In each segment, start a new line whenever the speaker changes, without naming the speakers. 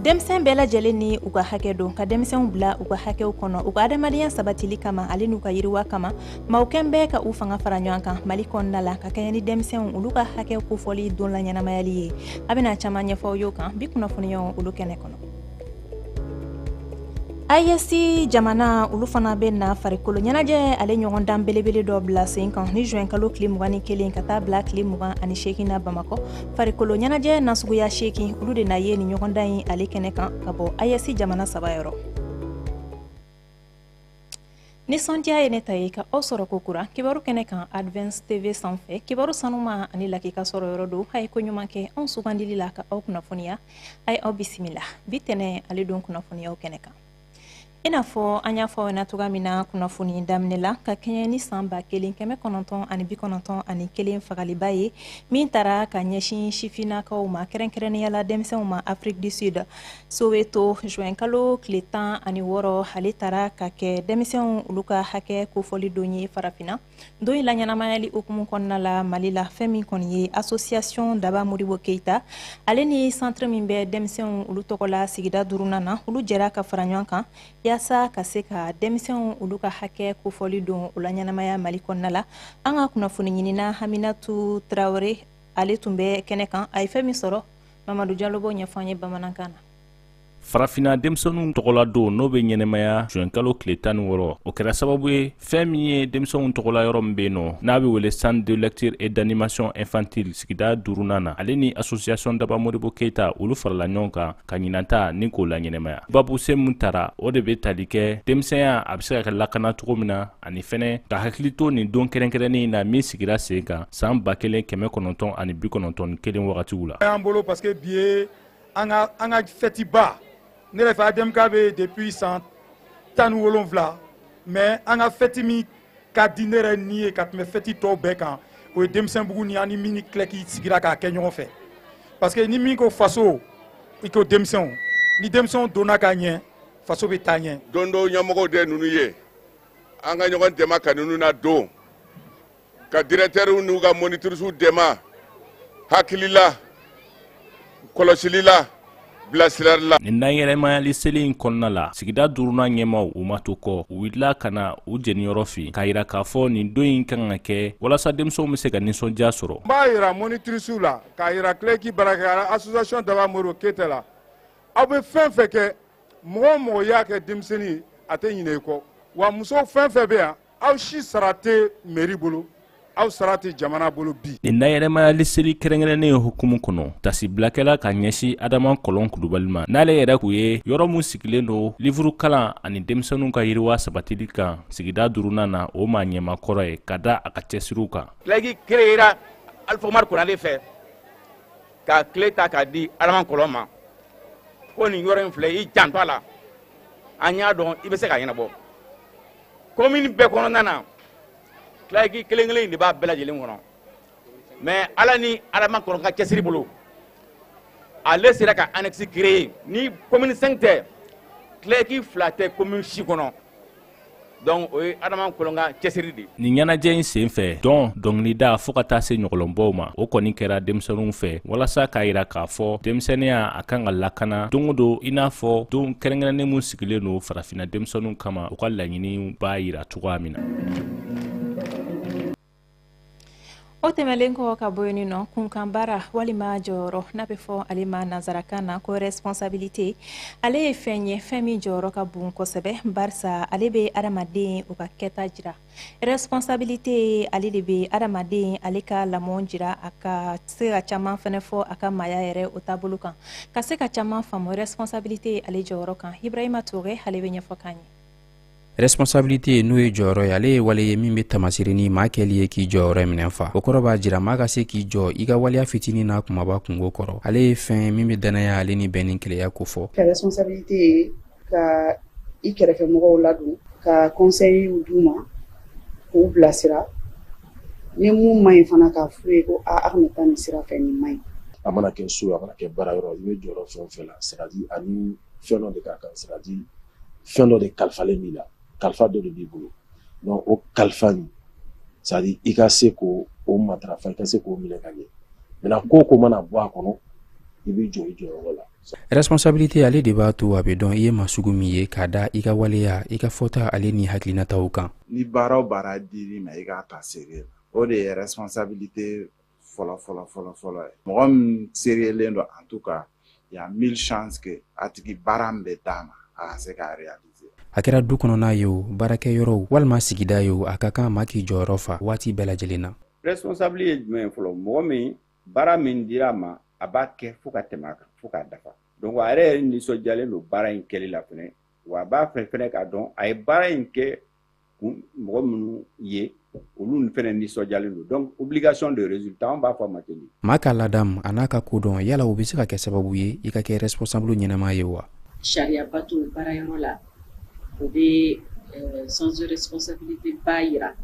denmisɛn bɛɛ lajɛlen ni u ka hakɛ don ka denmisɛnw bila u ka hakɛw kɔnɔ u ka adamadenya sabatili kama ale n'u ka yiriwa kama maaw kɛn bɛɛ ka u fanga fara ɲɔgɔn kan mali kɔnɔna la ka kɛɲɛ ni denmisɛnw olu ka hakɛ kofɔli don laɲɛnamayali ye an bɛna caman ɲɛfɔ aw y'o kan bi kunnafoniyaw olu kɛnɛ kɔnɔ aes jamana olu fana bɛna farikolo ɲɛnajɛ ale ɲɔgɔndan belebele dɔ bila sen kan ni juin kalo tile mugan ni kelen ka taa bila tile mugan ani seegin na bamakɔ farikolo ɲɛnajɛ nasuguya seekin olu de na ye nin ɲɔgɔndan in ale kɛnɛ kan ka bɔ aes jamana saba yɔrɔ nisɔndiya ye ne ta ye ka aw sɔrɔ kokura kibaru kɛnɛ kan advance tv sanfɛ kibaru sanuma ani lakika sɔrɔ yɔrɔ don a ye ko ɲuman kɛ anw sugandili la ka aw kunnafoniya a ye aw bisimila bi tɛnɛ ale don kunnafoniyaw kɛnɛ kan i n'a fɔ an y'a fɔ na cogoya min na kunnafoni daminɛ la ka kɛɲɛ ni san ba kelen kɛmɛ kɔnɔntɔn ani bi kɔnɔntɔn ani kelen fagaliba ye min tara ka ɲɛsin sifinnakaw ma kɛrɛnkɛrɛnnenya la denmisɛnw ma afrique du sud soweto juin kalo tile tan ani wɔɔrɔ ale tara ka kɛ denmisɛnw olu ka hakɛ kofɔli don ye farafinna don in laɲɛnamayali hukumu kɔnɔna la mali la fɛn min kɔni ye association daba modibo keita ale ni centre min bɛ denmisɛnw olu tɔgɔ la sigida duurunan na olu jɛra ka fara ɲɔgɔn kan yaasa ka se ka denmisɛnw olu ka hakɛ kofɔli don o laɲɛnamaya mali kɔnɔna la an ka kunnafoni ɲinina haminatu tarawele ale tun bɛ kɛnɛ kan a ye fɛn min sɔrɔ mamadu jalo b'o ɲɛfɔ an ye bamanankan na
farafinna denmisɛnninw tɔgɔla don n'o bɛ ɲɛnɛmaya juin kalo tile tan ni wɔɔrɔ o kɛra sababu ye fɛn min ye denmisɛnw tɔgɔla yɔrɔ min bɛ yen nɔ n'a bɛ wele centre de lecture et d'animation infantile sigida duurunan na ale ni association daba modibo keita olu farala ɲɔgɔn kan ka ɲinan ta nin k'o laɲɛnɛmaya baabusen min tara o de bɛ tali kɛ denmisɛnya a bɛ se ka kɛ lakana cogo min na ani fɛnɛ ka hakili to nin don kɛrɛnkɛrɛnnen in na min sigira sen kan san ba kelen kɛmɛ kɔnɔntɔn ani bi kɔnɔntɔn ni kelen wagatiw la.
an ka an ka fɛtiba ne yɛrɛ fɛ admk bɛ depuis san tan ni wolonwula mais an ka fɛti min ka di ne yɛrɛ ni ye ka tɛmɛ fɛti tɔw bɛɛ kan o ye denmisɛnbugu ni an ni min ni claec sigira k'a kɛ ɲɔgɔn fɛ parce que ni min ko faso i ko denmisɛnw ni denmisɛnw donna ka ɲɛ faso bɛ taa ɲɛ don dɔw ɲɛmɔgɔw de
ninnu ye an ka ɲɔgɔn dɛmɛ ka ninnu ladon ka directeurs n'u ka monitrices dɛmɛ hakilila kɔlɔsili la bilasirali la.
nin laɲɛnamayali seli in kɔnɔna la sigida duurunan ɲɛmaaw u ma to kɔ u wulila ka na u jeniyɔrɔ fin k'a yira k'a fɔ nin don in kan ka kɛ walasa denmisɛnw bɛ se ka nisɔndiya sɔrɔ. n b'a yira
monitirisiw la k'a yira claec baarakɛlaw la association daba modibo keita la aw bɛ fɛn fɛn kɛ mɔgɔ o mɔgɔ y'a kɛ denmisɛn ye a tɛ ɲinɛ i kɔ wa muso fɛn fɛn bɛ yan aw si sara tɛ meri bolo aw sara tɛ jamana bolo bi nin nayɛrɛmayali
seli kɛrɛnkɛrɛnnen hukumu kɔnɔ tasibila kɛla ka ɲɛsi adama kɔlɔn kulubali ma n'ale yɛrɛ k'u ye yɔrɔ min sigilen don livuru kalan ani denmisɛnninw ka yiriwa sabatili kan sigida duurunan na o maa ɲɛmaa kɔrɔ ye ka da a ka cɛsiriw kan CLAEC
kereyera alifa umaru konare fɛ ka kile ta k'a di adama kɔlɔn ma ko nin yɔrɔ in filɛ i janto a la an y'a dɔn i bɛ se k'a ɲɛnabɔ komini bɛɛ kɔnɔna na CLAEC kelen kelen de b'a bɛɛ lajɛlen kɔnɔ mɛ ala ni adama kɔlɔn ka cɛsiri bolo ale sera ka annexe créer ni komini 5 tɛ CLAEC fila tɛ komini si kɔnɔ donc o ye adama kɔlɔn ka cɛsiri de nin ɲɛnajɛ in sen
fɛ dɔn dɔngilida fɔɔ ka taa se ɲɔgɔlɔnbɔw ma o kɔni kɛra denmisɛninw fɛ walasa k'a yira k'a fɔ denmisɛniya a kan ka lakana don o don i n'a fɔ don kɛrɛnkɛrɛnnen min sigilen don farafinna denmisɛnninw kama u ka laɲini b'a jira cogoya min
na o tɛmɛlen kɔ ka bɔ yen nɔ kunkan baara walima jɔyɔrɔ n'a bɛ fɔ ale ma nansarakan na ko responsabilité ale ye fɛn ye fɛn min jɔyɔrɔ ka bon kosɛbɛ barisa ale bɛ adamadenw ka kɛta jira responsabilité ale de bɛ adamaden ale ka lamɔ jira a ka se ka caman fɛnɛ fɔ a ka maaya yɛrɛ o taabolo kan ka se ka caman faamu responsabilité ale jɔyɔrɔ kan ibrahima toure ale bɛ ɲɛfɔ k'an ye
responsabilité n'o ye jɔyɔrɔ ye ale ye wale ye min bɛ tamasiri ni maa kɛli ye k'i jɔyɔrɔ minɛ fa o kɔrɔ b'a jira maa ka se k'i jɔ i ka waleya fitini n'a kumaba kunko kɔrɔ ale ye fɛn ye min bɛ dannaya ale ni bɛn ni kelenya kofɔ responsabilité
ka i kɛrɛfɛ mɔgɔw ladon ka kɔnseyiw d'u ma k'u bilasira ni mun man ɲi fana k'a f'u ye ko a kana taa nin sira fɛ nin man ɲi a mana kɛ so a
mana kɛ baara yɔrɔ i bɛ jɔyɔrɔ fɛn o fɛn la c'est à dire ani fɛn dɔ de ka kan c'est à dire fɛn dɔ de kalifalen b'i la kalifa dɔ de b'i bolo donc o kalifa nin c'est à dire i ka se k'o matarafa i ka se k'o minɛ ka ɲɛ maintenant ko o ko mana bɔ a kɔnɔ i b'i jɔ i jɔyɔrɔ la Responsabilité
ale de b'a to a bɛ dɔn i ye maa sugu min ye ka da i ka waleya i ka fɔta ale ni hakilinataw kan. Ni baara o baara
dir'i ma i k'a ta sérieux la o de ye responsabilité fɔlɔ fɔlɔ fɔlɔ fɔlɔ ye mɔgɔ min seriyelen don en tout cas il y a mille chances que a tigi baara min bɛ d'a ma a ka se k'a réaliser. A kɛra du
kɔnɔna ye o baarakɛyɔrɔw walima sigida ye o a ka kan maa k'i jɔyɔrɔ fa waati bɛɛ lajɛlen na. Responsable ye jumɛn
ye fɔlɔ mɔgɔ min baara min dira a ma a b'a kɛ fo ka tɛmɛ a kan fo k'a dafa donc a yɛrɛ nisɔndiyalen don baara in kɛli la fɛnɛ wa a b'a fɛ fɛnɛ k'a dɔn a ye baara in kɛ mɔgɔ minnu ye olu fɛnɛ nisɔndiyalen don donc obligation de résultat an b'a fɔ a ma ten maa ka ladamu
an'a ka kodɔn yala o bɛ se ka kɛ sababu ye i ka kɛ responsable ɲɛnama ye wa sariya
bato baarayɔrɔ la o bɛ euh, sens de responsabilité ba yira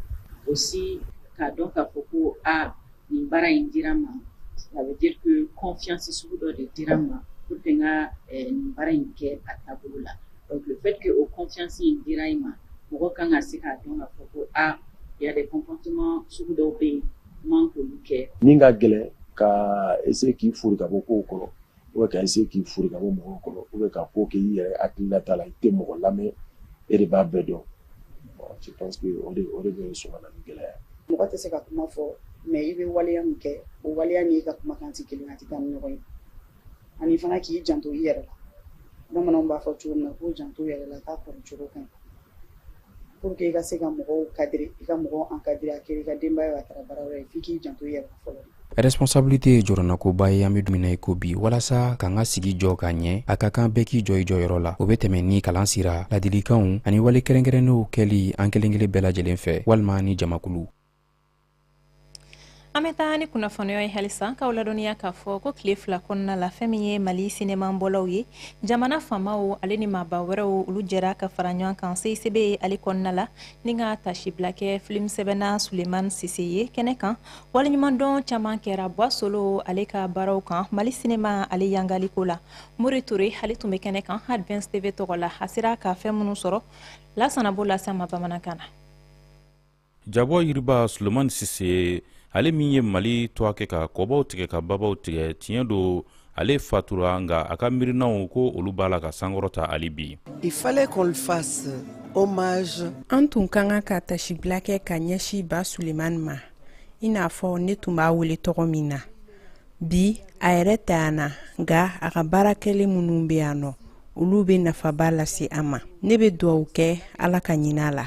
aussi k'a dɔn k'a fɔ ko a nin baara in dira n ma ça veut dire que confiance sugu dɔ de dira n ma pour que n ka eh, nin baara in kɛ a taabolo la donc le fait que o confiance in dira i ma mɔgɔ kan ka se k'a dɔn k'a fɔ ko a ah, il y a des comportements sugu dɔw bɛ yen man k'olu kɛ min ka gɛlɛn
ka essayer k'i fori ka bɔ kow kɔrɔ ou bien ka essayer k'i fori ka bɔ mɔgɔw kɔrɔ ou bien ka ko kɛ i yɛrɛ hakilinata la i tɛ mɔgɔ lamɛn e de b'a bɛɛ dɔn je pense que o de o de bɛ sɔn ka na ni gɛlɛya mɔgɔ tɛ se ka kuma
fɔ mais i bɛ waleya min kɛ o waleya ni i ka kumakan tɛ kelen a tɛ taa ni ɲɔgɔn ye ani fana k'i janto i yɛrɛ la bamananw b'a fɔ cogo min na ko janto yɛrɛ la k'a kɔrɔ cogo kan Pour que i ka se ka mɔgɔw cadrer i ka mɔgɔw encadrer a kɛra i ka denbaya a taara baara ye f'i k'i janto i yɛrɛ la fɔlɔ Responsabilité ye
jɔrɔnakoba ye an bɛ don min na i ko bi walasa k'an ka sigi jɔ ka ɲɛ a ka kan bɛɛ k'i jɔ i jɔyɔrɔ la o bɛ tɛmɛ ni kalan sira ladilikanw ani wale kɛrɛnkɛrɛnnenw kɛli an kelenkelen bɛɛ lajɛlen fɛ walima ni jamakulu
an bɛ taa ni kunnafoniw ye halisa k'aw ladɔnniya k'a fɔ ko tile fila kɔnɔna la fɛn min ye mali sinemanbɔlaw ye jamana faamaw ale ni maaba wɛrɛw olu jɛra ka fara ɲɔgɔn kan CICB ale kɔnɔna la ni ka taasibila kɛ filimsɛbɛnna suleman sise ye kɛnɛ kan waleɲumandɔn caman kɛra buwa solo ale ka baaraw kan mali sinema ale yangaliko la mori ture ale tun bɛ kɛnɛ kan advance tv tɔgɔ la a sera ka fɛn minnu sɔrɔ lasana b'o lase aw ma bamanankan na
jabɔ yiriba sulemani sise ale min ye mali tɔgɔ kɛ ka kɔbaw tigɛ ka babaw tigɛ tiɲɛ don ale fatura nka a ka miirinanw ko olu b'a la ka sankɔrɔta hali bi il fallait qu'on le
fasse hommage an tun ka kan ka taasibila kɛ ka ɲɛsin ba sulemani ma i n'a fɔ ne tun b'a wele tɔgɔ min na bi a yɛrɛ tɛ yan na nka a ka baara kɛlen minnu bɛ yan nɔ olu bɛ nafaba lase an ma ne bɛ dugawu kɛ ala ka hinɛ a la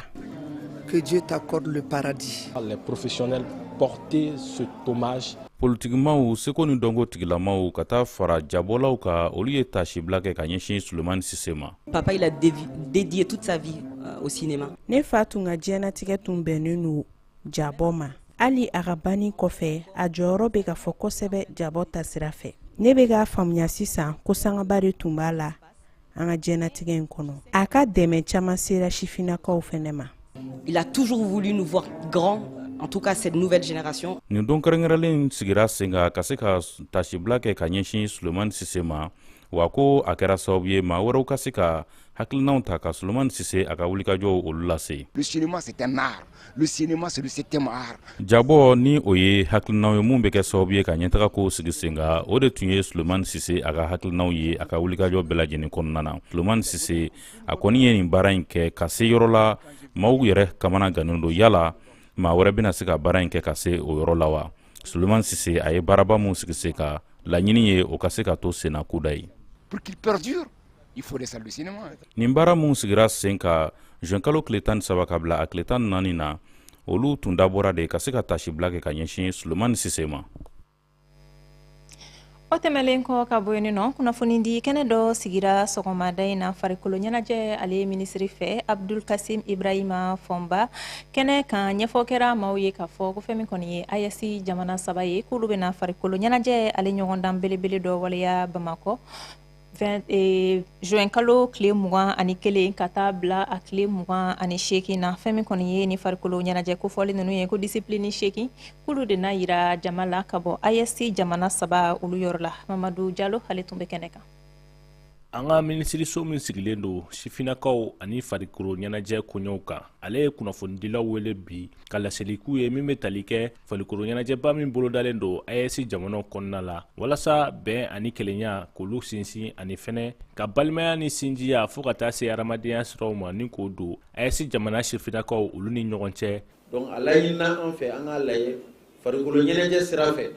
que Dieu t'accorde le paradis. Les professionnels
porter ce hommage politikimaaw
seko ni dɔnko tigilamaw ka taa fara jabɔlaw kan olu ye taasibila kɛ ka ɲɛsin sulemani sise ma papa il a
dédié toute sa vie euh, au cinéma ne fa tun ka
diɲɛnatigɛ tun bɛnnen don jabɔ ma hali a ka banni kɔfɛ a jɔyɔrɔ bɛ ka fɔ kosɛbɛ jabɔ ta sira fɛ ne bɛ k'a faamuya sisan ko sangaba de tun b'a la an ka diɲɛnatigɛ in kɔnɔ a ka dɛmɛ caman sera sifinnakaw fɛnɛ ma Il a
toujours voulu nous voir grands en tout cas cette nouvelle génération. Nin don kɛrɛnkɛrɛnlen
sigira sen kan ka se ka tasibila kɛ ka ɲɛsin Sulemani Sise ma wa ko a kɛra sababu ye maa wɛrɛw ka se ka hakilinaw ta ka sulemani sise a ka wulikajɔw
olu lase le cinéma c'est un art le cinéma c'est le septième art jabɔ ni o
ye hakilinaw ye minw bɛ kɛ sababu ye ka ɲɛtaga kow sigi sen kan o de tun ye sulemani sise a ka hakilinaw ye a ka wulikajɔ bɛɛ lajɛlen kɔnɔna na sulemani sise a kɔni ye nin baara in kɛ ka se yɔrɔ la maaw yɛrɛ kamana gannen don yala maa wɛrɛ bɛna se ka baara in kɛ ka se o yɔrɔ la wa suleman sise a ye baaraba min sigi sen kan laɲini ye o ka se ka to senna kudayi
nin baara minw sigira
sen kan zuwɛnkalo tile tan ni saba ka bila a tile tan ni naani na olu tun dabɔra de ka se ka tasibila kɛ ka ɲɛsin suleman sise ma
o tɛmɛlen kɔ ka bɔ yen nɔ kunnafoni di kɛnɛ dɔ sigira sɔgɔmada in na farikolo ɲɛnajɛ ale minisiri fɛ abdul kasim ibrahima fɔnba kɛnɛ kan ɲɛfɔ kɛra maaw ye k'a fɔ ko fɛn min kɔni ye ayɛsi jamana saba ye k'olu bɛna farikolo ɲɛnajɛ ale ɲɔgɔndan belebele dɔ waleya bamakɔ zuwɛnkalo tile mugan ani kelen ka taa bila a tile mugan ani seeki na fɛn min kɔni ye nin farikolo ɲɛnajɛ kofɔlen ninnu ye ko disiplini seeki k'olu de na jira jama la ka bɔ ayɛsi jamana saba olu yɔrɔ la mamadu jalo ale tun bɛ kɛnɛ kan an
ka minisiriso min sigilen don sifinakaw ani farikolo ɲɛnajɛ koɲɛw kan ale ye kunnafonidilaw wele bi ka laseli k'u ye min bɛ tali kɛ farikolo ɲɛnajɛba min bolodalen don AES jamanaw kɔnɔna la walasa bɛn ani kelenya k'olu sinsin ani fɛnɛ ka balimaya ni sinjiya fɔɔ ka taa se hadamadenya siraw ma ni k'o don AES jamana sifinnakaw olu ni ɲɔgɔn cɛ donc a
laɲinina an fɛ an k'a lajɛ farikolo ɲɛnajɛ sira fɛ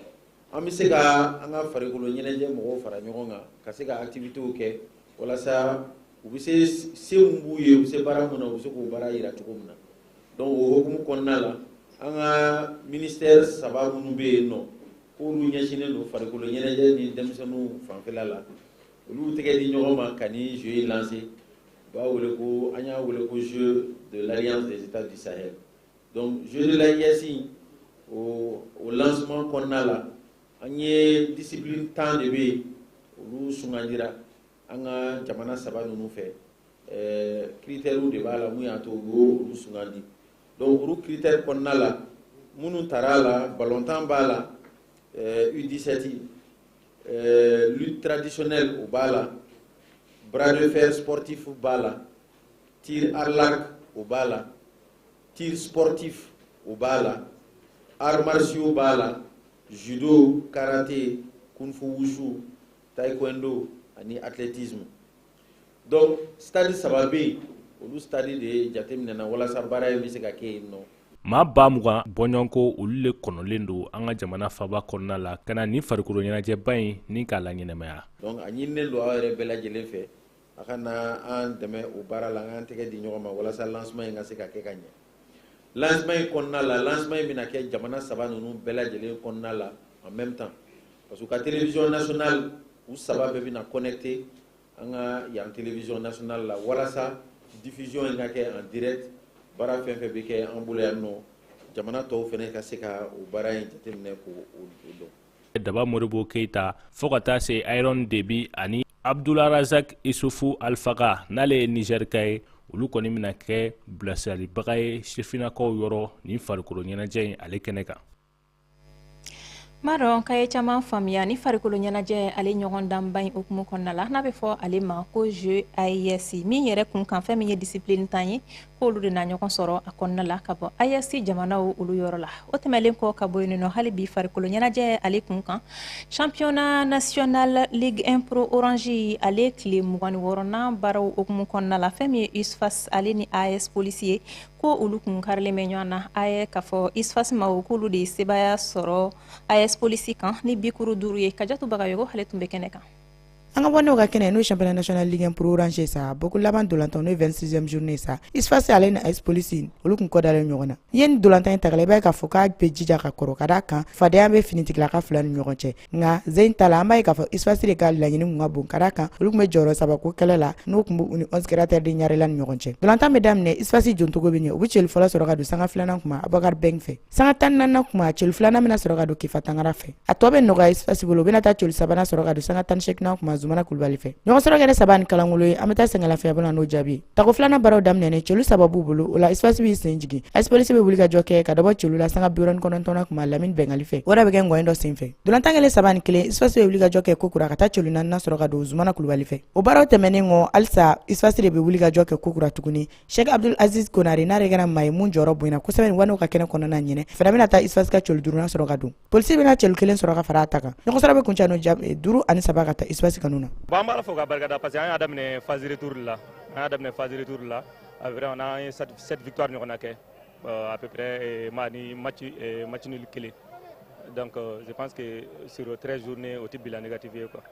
an bɛ se ka an ka farikolo ɲɛnajɛ mɔgɔw fara ɲɔgɔn kan ka se ka activitéw kɛ walasa u bɛ se se min b'u ye u bɛ se baara min na u bɛ se k'o baara jira cogo min na donc o hokumu kɔnɔna la an ka ministère saba minnu bɛ yen nɔ k'olu ɲɛsinnen don farikolo ɲɛnajɛ ni denmisɛnninw fanfɛla la olu tɛgɛ di ɲɔgɔn ma ka nin jeux in lancer u b'a wele ko an y'a wele ko jeux de l'alliance des états du sahel donc jeux de l'AES o lancement kɔnɔna la an ye discipline tan de bɛ yen olu sugandira an ka jamana saba ninnu fɛ ɛɛ kiritɛriw de b'a la mun y'a to u y'o olu sugandi donc olu kiritɛri kɔnɔna la minnu tara a la balontan b'a la ɛɛ u 17 ɛɛ lutte traditionnelle o b'a la bras de fer sportif b'a la tir à l'arc o b'a la tir sportif o b'a la arts martiaux b'a la judo karaté kung fu wushu taekwondo ani athlétisme donc stade saba bɛ yen olu stade de jateminɛna walasa baara in bɛ se ka kɛ yen nɔ maa ba
mugan bɔɲɔgɔnko olu le kɔnɔlen don an ka jamana faba kɔnɔna la ka na nin farikolo ɲɛnajɛba in ni k'a laɲɛnamaya donc a ɲininen don aw
yɛrɛ bɛɛ lajɛlen fɛ a ka na an dɛmɛ o baara la an k'an tɛgɛ di ɲɔgɔn ma walasa lancement in ka se ka kɛ ka ɲɛ lancement in kɔnɔna la lancement in bɛna kɛ jamana saba ninnu bɛɛ lajɛlen kɔnɔna la en même temps parce que u ka télévision nationale u saba bɛɛ bɛna connecté an ka yan télévision nationale la walasa diffusion in ka kɛ en direct baara fɛn fɛn bɛ kɛ an bolo yan nɔ jamana tɔw fɛnɛ ka se ka o baara in jateminɛ k'o dɔn daba
modibo keyita fɔɔ ka taa se iron debi ani abdularazak isufu alfaga n'ale ye nizɛrika ye olu kɔni bɛna kɛ bilasiralibaga ye sifinnakaw yɔrɔ nin farikolo ɲɛnajɛ in ale kɛnɛ kan N b'a
dɔn k'a ye caman faamuya nin farikolo ɲɛnajɛ ale ɲɔgɔndanba in hukumu kɔnɔna la n'a bɛ fɔ ale ma ko jeux AES min yɛrɛ kun kan fɛn min ye discipline tan ye k'olu de na ɲɔgɔn sɔrɔ a kɔnɔna la ka bɔ AES jamanaw olu yɔrɔ la o tɛmɛnlen kɔ ka bɔ yen nɔ hali bi farikolo ɲɛnajɛ ale kun kan championnat national ligue 1 pro orange ale tile mugan ni wɔɔrɔnan baaraw hukumu kɔnɔna la fɛn min ye USFAS ale ni AS polisi ye ko olu kun karilen bɛ ɲɔgɔn na a ye k'a fɔ USFAS maaw k'olu de ye sebaaya sɔrɔ AS polisi kan ni bikuru duuru ye kajatu bagayogo ale tun bɛ kɛnɛ kan an ka waanew ka
kɛnɛ n'o ye championnat national ligue 1 pro orange sa bɔko laban dolantan n'o ye 26e journée sa USFAS ale ni AS polisi olu kun kɔdalen ɲɔgɔn na ye nin dolantan in tagala i b'a ye k'a fɔ k'a bɛ jija ka kɔrɔ ka d'a kan fadenya bɛ finitigilaka fila ni ɲɔgɔn cɛ nka jeu in ta la an b'a ye k'a fɔ USFAS de ka laɲini kun ka bon ka d'a kan olu kun bɛ jɔyɔrɔ saba ko kɛlɛ la n'o kun b'u ni onze créateurs de ɲarela ni ɲɔgɔn cɛ dolantan bɛ daminɛ USFAS jontogo bɛ ɲɛ u bɛ celu fɔlɔ sɔrɔ ka don sanga filanan kuma abubakar bɛng fɛ sanga tan ni naaninan kuma celu filanan bɛna sɔrɔ ka don kifa tangara fɛ a tɔ bɛ nɔgɔya USFAS bolo u bɛna taa celu sabanan sɔrɔ ka don sanga tan ni seeginan kuma zumana kulubali fɛ ɲɔgɔn sɔrɔ kɛra saba ni kalangolo ye an bɛ taa sɛgɛnlafiyabɔ n'o jaabi tako filanan baaraw daminɛnen celu saba b'u bolo o la USFAS b'i sen jigin AS polisi bɛ wulikajɔ kɛ ka dɔ bɔ celu la sanga biwɔɔrɔ ni kɔnɔntɔnnan kuma lamini bɛngali fɛ o de bɛ kɛ ngɔyɛn dɔ sen fɛ dolantan kɛlen saba ni kelen USFAS bɛ wulikajɔ kɛ kokura ka taa celu naaninan sɔrɔ ka don zumana kulubali fɛ o baaraw tɛmɛnen kɔ halisa USFAS de bɛ wulikajɔ kɛ kokura tuguni sheikh abdul aziz konare n'a de kɛra maa ye min jɔyɔrɔ bonyana kosɛbɛ nin waanew ka kɛnɛ kɔnɔna ɲinɛ fana bɛna taa USFAS ka celu duurunan sɔrɔ ka don Polisi bɛna cɛ kelen sɔrɔ ka fara ta kan ɲɔgɔnsa bɛ kun ca duuru ani saba ka taa isusi ka na ban b'a fɔ ka barika
parce que an y'a daminɛ fazri duuruuru la an y'a daminɛ fazri duuruuru la a n' ye satibi ɲɔgɔn na kɛ a bɛ ma ni ma macinili kelen danke pa que sro tɛ zourunnen o tɛ bila ne katibi ye kuwa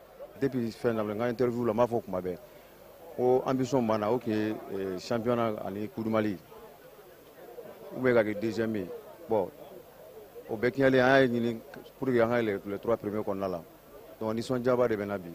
de bɛ fɛn na
n' teriuruuru la b'a fɔ o kuma bɛɛ ko an bɛ sɔn banna o tun sanfɛfana ani kuli ou bien ka kɛ deuxième ye bon o bɛɛ tiɲɛlen an y'a ɲini pour que an ka yɛlɛ les trois premiers kɔnɔna la donc nisɔndiyaba de bɛ n na bi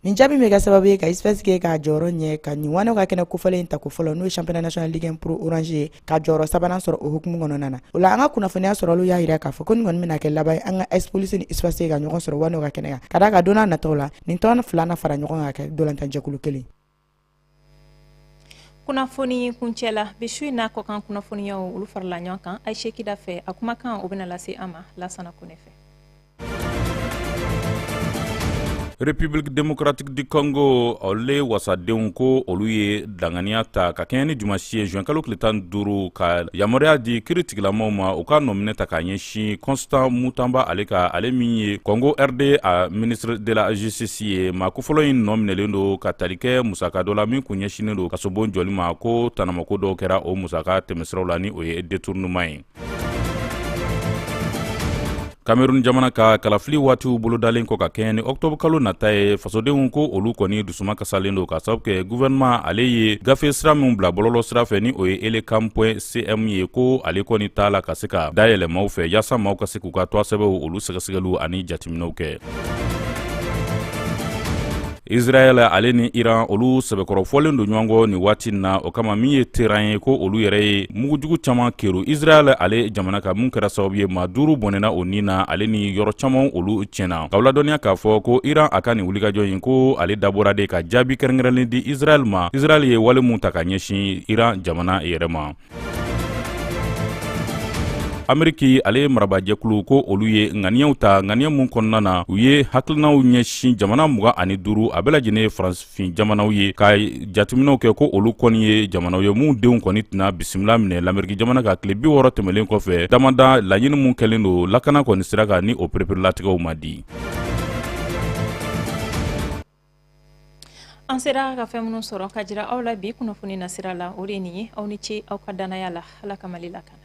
nin jaabi bɛ kɛ
sababu ye ka USFAS kɛ k'a jɔyɔrɔ ɲɛ ka nin wanew ka kɛnɛ kofɔlen in ta ko fɔlɔ n'o ye championnat national ligue 1 pro orange ye ka jɔyɔrɔ sabanan sɔrɔ o hukumu kɔnɔna na o la an ka kunnafoniya sɔrɔliw y'a jira k'a fɔ ko nin kɔni bɛna kɛ laban ye an ka AS polisi ni USFAS ka ɲɔgɔn sɔrɔ wanew ka kɛnɛ kan ka d'a kan don nataw la nin tɔn fila na fara ɲɔgɔn kan ka kɛ dolantanjɛkulu kelen
kunnafoni kuncɛ la bi su in na kɔkan kunnafoniyaw olu farala ɲɔgɔn kan ayisa kida fɛ a kumakan o bɛna lase an ma lasana kone fɛ
République démocratique du Congo ale wasadenw ko olu ye danganiya ta ka kɛɲɛ ni dimanche ye juin kalo tile tan ni duuru ka yamaruya di kiiritigilamaw ma u ka nɔminɛ ta ka ɲɛsin si constant mutanba ale kan ale min ye congo rd a ministre de la justice ye maa kofɔlɔ in nɔminɛlen don ka tali kɛ musaka dɔ la min kun ɲɛsinnen don kasobon jɔli ma ko tanamako dɔw kɛra o musaka tɛmɛsiraw la ni o ye détournement ye kamerun jamana ka kalafili waatiw bolodalen kɔ ka kɛɲɛ ni ɔktɔbr kalo nata ye fasodenw ko olu kɔni dusuma kasalen don ka sababu kɛ guvɛrɛnman ale ye gafe sira minw bila bɔlɔlɔ sira fɛ ni o ye elecam point cm ye ko ale kɔni t'a la ka se ka dayɛlɛ maaw fɛ yaasa maaw ka se k'u ka tɔgɔsɛbɛnw olu sɛgɛsɛgɛliw ani jatiminɛw kɛ israɛl ale ni iran olu sɛbɛkɔrɔ fɔlen don ɲɔgɔn kɔ nin waati na o kama min ye teheran ye ko olu yɛrɛ ye mugujugu caman kɛrun israɛl ale jamana kan min kɛra sababu ye maa duuru bɔnɛna u ni na ale ni yɔrɔ caman olu tiɲɛna k'aw ladɔnniya k'a fɔ ko iran a ka nin wulikajɔ in ko ale dabɔra de ka jaabi kɛrɛnkɛrɛnnen di israɛl ma israɛl ye wale min ta ka ɲɛsin iran jamana yɛrɛ ma ameriki ale ye marabajɛkulu ko olu ye ŋaniyaw ta ŋaniya min kɔnɔna na u ye hakilinaw ɲɛsin jamana mugan ani duuru a bɛɛ lajɛlen ye faransinfin jamanaw ye ka jatiminɛw kɛ ko olu kɔni ye jamanaw ye minw denw kɔni tɛna bisimila minɛ lameriki jamana kan tile bi wɔɔrɔ tɛmɛlen kɔfɛ damada laɲini min kɛlen don lakana kɔni sira kan ni o pereperelatigɛw ma di
an sera ka fɛn minnu sɔrɔ ka jira aw la bi kunnafoni nasira la o de ye nin ye aw ni ce aw ka dannaya la ala ka mali lakana